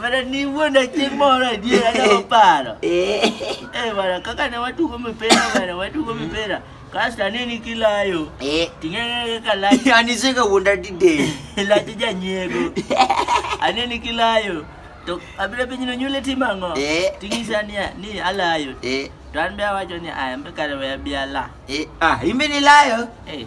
Bana ni wuonda chieng' moro adier anyalo paro. Eh bana kaka ne watugo mipira bana watugo mipira. Kasto aneni kilayo. Eh ting'e kaka layo. Yani sika wuonda dide. Layo janyego. Aneni kilayo. To abiro penjo ni nyule timo ang'o? Eh. Ting'isa niya ni alayo. Eh. To an be awacho ni aya mbe kare we abi ala. Eh ah imbe ni layo. Eh.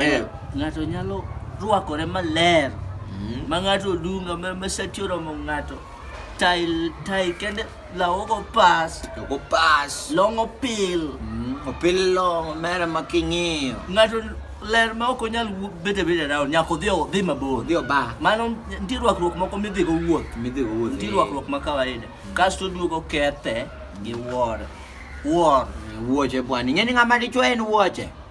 Eh. Ng'ato nyalo rwakore maler mm. ma ng'ato odunga ma sati oromo ng'ato tai tai kende lawo go pas to go pas long opil mm. opil long mera ma king'iyo ng'ato ler ma ok onyal bete bete round nyaka odhi odhi mabor odhi oba mano nitie rwakruok moko midhi go wuoth midhi go wuoth nitie rwakruok ma kawaida mm. kasto duogo kethe gi wuor wuor wuoche bwana ing'e ni ng'ama dichwe en wuoche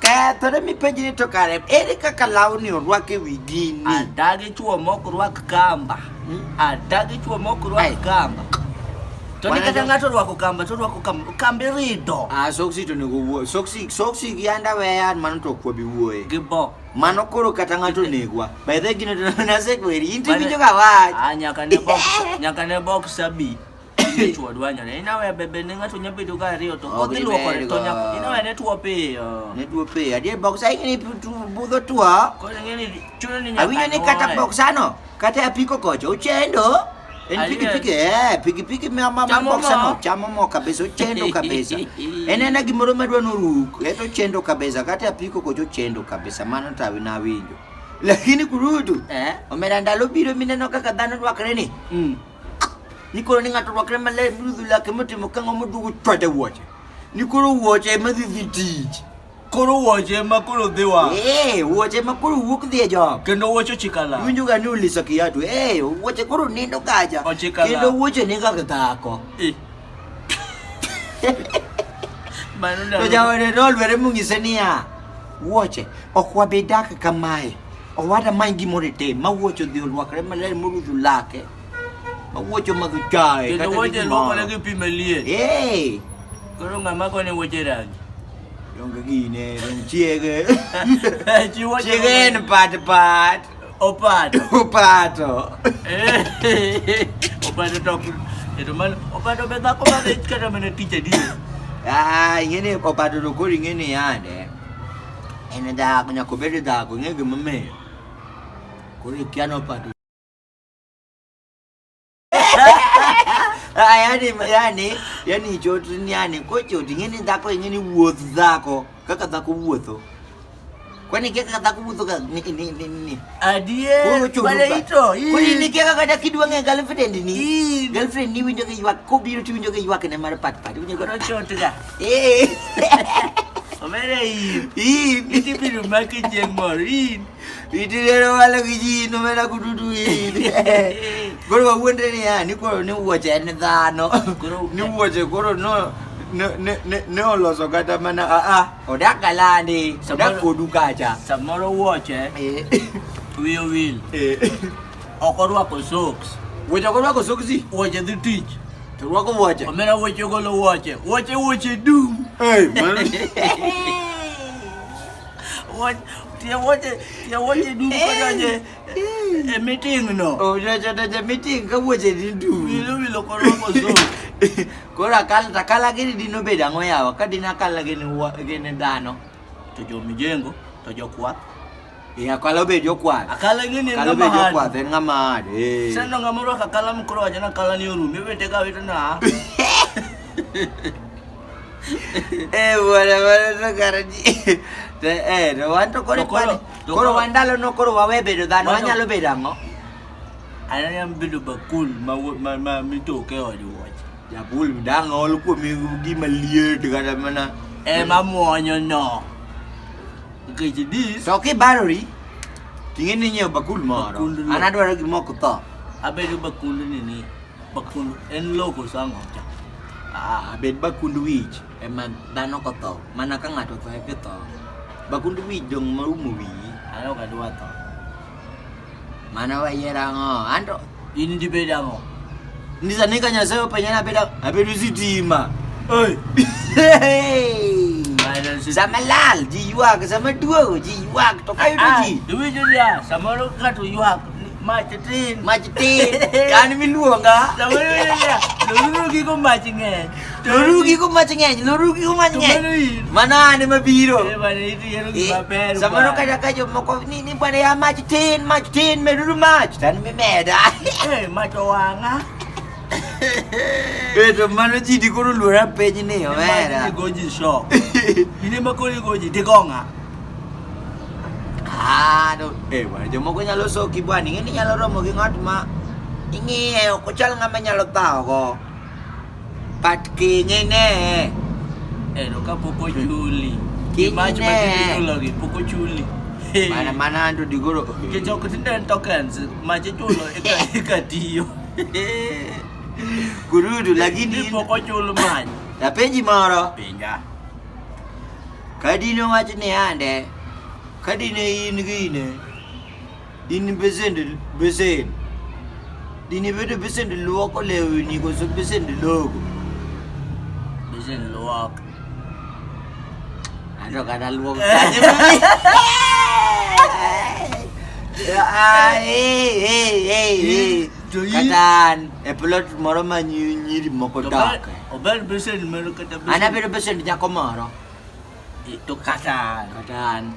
Ketho ne mipenji ni to kare ere kaka lawni orwak e wi gini? Adagi chuo mok rwak kamba. Hmm? Adagi chuo mok rwak kamba. To ni kata ng'ato rwako kamba to rwako kamba kambi rido. Ah soksi to nego wuo. Soksi soksi gi anda weya mano to kwabi wuoye. Gi bo. Mano koro kata ng'ato negwa. By the gino to na sekweri inti bijo ka wach. Ah nyaka ne box nyaka ne box abi. Ni chuo dwanyo ne inawe bebe ne ng'ato nya bedo ga ariyo to Ok, kodhi luoko ne ibergo. to nya inawe ne tuo piyo Ne tuo piyo. Adier boksa ing'e ni pu- tu- budho tuo. koro ng'e ni chuno ni nyaka Awinjo ni kata nyuoe. boksano, kata apiko kocha ochendo. En Adier. pikipiki, eh, pikipiki ma ma ma Chamo boksano mo. chamo mo kabisa, ochendo kabisa. En ena gimoro madwa noruk, eto ochendo kabisa, kata apiko kocha ochendo kabisa, mano to awi- nawinjo. Lakini kurutu, Eh? omera ndalo biro mineno kaka dhano rwakre ni. Mm. Nikoro ni ng'ato rwakre maler mirudhu lake motimo kang'o moduogo chwade wuoche. Nikoro wuoche ema dhi dhi tich. Koro wuoche ema koro dhi wa. Ee, wuoche ema koro wuok dhi e job. Kendo wuoche ochikala. Iwinjo ga ni uliso kiatu. Ee, wuoche koro nindo kaja. Ochikala. Kendo wuoche ni kaka dhako. Eh. Mano To ndalo. jaode nolwere mong'ise niya, wuoche ok wabi dak kamae. Owada many gimoro itim ma wuocho dhi olwakre maler morudhu lake ma wuocho mag chae Kendo kata wuoche gimoro. luokore gi pi maliet. Eh, Koro ng'ama kone wuoche rangi. donge gine dong chiege Chi wuoche chiege en pat pat opato. opato Opato to ok. Kendo mano opato be dhako ma dhich kata mana tich adier. Ah, ing'eni opato to koro ing'eni yande En e dhago, nyaka obed e dhago, ing'e gima omiyo. Koro ikia nopado. Ah, yani, yani, yani chot ni yani, kochot ing'e ni dhako ing'e ni wuoth dhako, kaka dhako wuotho. Kwani kia kaka dhako wuotho ka ni ni ni ni. Adier, Koro churuka. bale ito. ii. Kwani ni kia kaka dhako idwa ng'e girlfriend ni. Ii. Girlfriend ni winjo ka ywak, kobiro tiwinjo ka ywak ne mar pat pat. Winjo ka Koro chotga. Ee. Omera in. In. Iti biro maki chieng' mor. In. Iti rero walo gi ji in omera kududu in. Koro wawuondre ni ya ni koro ni wuoche en dhano. Ni wuoche koro no ne ne ne ne oloso kata mana a a odak galani odak kodu kacha. Samoro wuoche. Ee. Wiyo wil. Ee. Ok orwako soks. Wuoche ok orwako soksi. Wuoche dhi tich. To orwako wuoche. Omera wuoche ogolo wuoche. Wuoche wuoche dum. Hey, man. Wuoche tie wuoche tie wuoche dum kodonje e meeting no. Ojojo donje meeting ka wuoche ni dum. Wilo wilo korwako soks. Koro akala to akala gini dino bedo ang'o yawa ka dino akala gini wa- gini dhano to jomijengo to jokwath Eh, akalo be jokwath. Akala ing'e ni en Akalo be ng'ama hard. jokwath en ng'ama hard. Eh. Sasa ndo ng'ama orwako akala mkoro wacho ni akala ni orum. Iwete ka wete na. Eh, bwana, bwana, to kara ji- to, eh, to wan to koro To koro- ipani- to koro koro- wan ndalono koro wawe bedo dhano Wan to- wanyalo bedo ang'o Ananya bedo bakul ma wo- ma ma mitoke e od wuoche. jabul dang' ol kuom gima liet kata mana Eh mamuonyo no. Nikech dis To kibarori, ting'e ni inyiewo bakul moro. Bakul no. An adwaro gimoko tho. abedo bakund nini bakund en loko sango cha Ah, bed bakund wich ema dhano kotho. Mana ka ng'ato otho e kitho. Bakund wich dong' maumo wiyi. alo kadwa tho Mano wayiero ang'o? Anto in dibed ang'o? Ndisani ka Nyasaye openya nabed abedo sitima. Sama lal ji ywak, sama duogo ji ywak to ka yudo ji. Iwinjo niya, samoro ng'ato ywak mach tin. Mach tin, an miluonga. Samoro iwinjo niya, to gigo mach ng'eny. Lorugi ko mache ng'eny, lorugi ko mache ng'eny. Mano ane mabiro. Eh, Samoro kata ka jomoko ni ni bwana ya mach tin, mach tin, meduru mach. Tan mimeda. Eh, mach owang'a. Beto mano ji di koro luora piny ni omera. Mach goji shock. Ine ma koro goji di gonga. Ah, no. Eh, bwana jomoko nyalo soki bwana, ing'e ni nyalo romo gi ng'at ma ing'iye ok ochal ng'ama nyalo thago. Pat kinyne. Ero ka pok ochuli. Kinyne. Mach ma kichulogi pok ochuli. Mana mana anto digoro. Nikech ok tinde en tokens, mach ichulo eka eka tiyo. Gurudu lakini Ni pok ochul mach. napenji moro. Pinja. Kadino wach ni ande. Kadine in gine. Dini besende besende. Dini bedo besende luoko lewni koso besende logo. Besende luoko. Anto kata luoko. Katan e plot moro ma nyiri moko dak. Obed besende moro kata besende. Ana bedo besende nyako moro. To katan. Katan.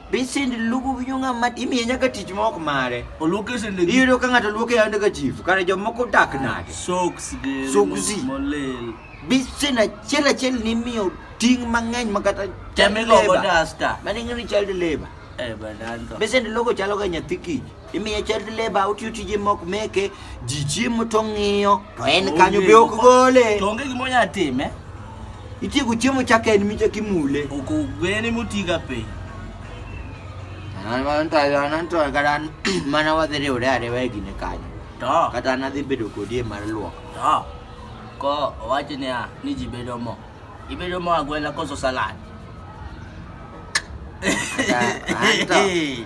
Be send lugu winyo ng'a ma imiye nyaka tich ma ok mare. Oluoke sende gi Iyudo ka ng'ato luoke yande ka chief, kare jomoko dak nade? socks gi Socks. molil. Be send achiel achiel ni imiyo ting' mang'eny ma kata Teme go go duster. Mano ing'e ni child labor. Eh, bananto. Be send logo chalo ga nyathi kich. imiye child labor otiyo tije mok meke ji chiemo to ng'iyo to en Onge. kanyo be ok gole To onge gima onyalo time. itieko chiemo chaka en micha kimule Ok ogwene motiga piny. kata mana wadhi riwre ariwa e gine kanyo To, kata an adhi bedo kodi e mar luok to. Ko owacho niya ni ji bedo mo. Ibedo mo agwela koso salad. Kata- anto.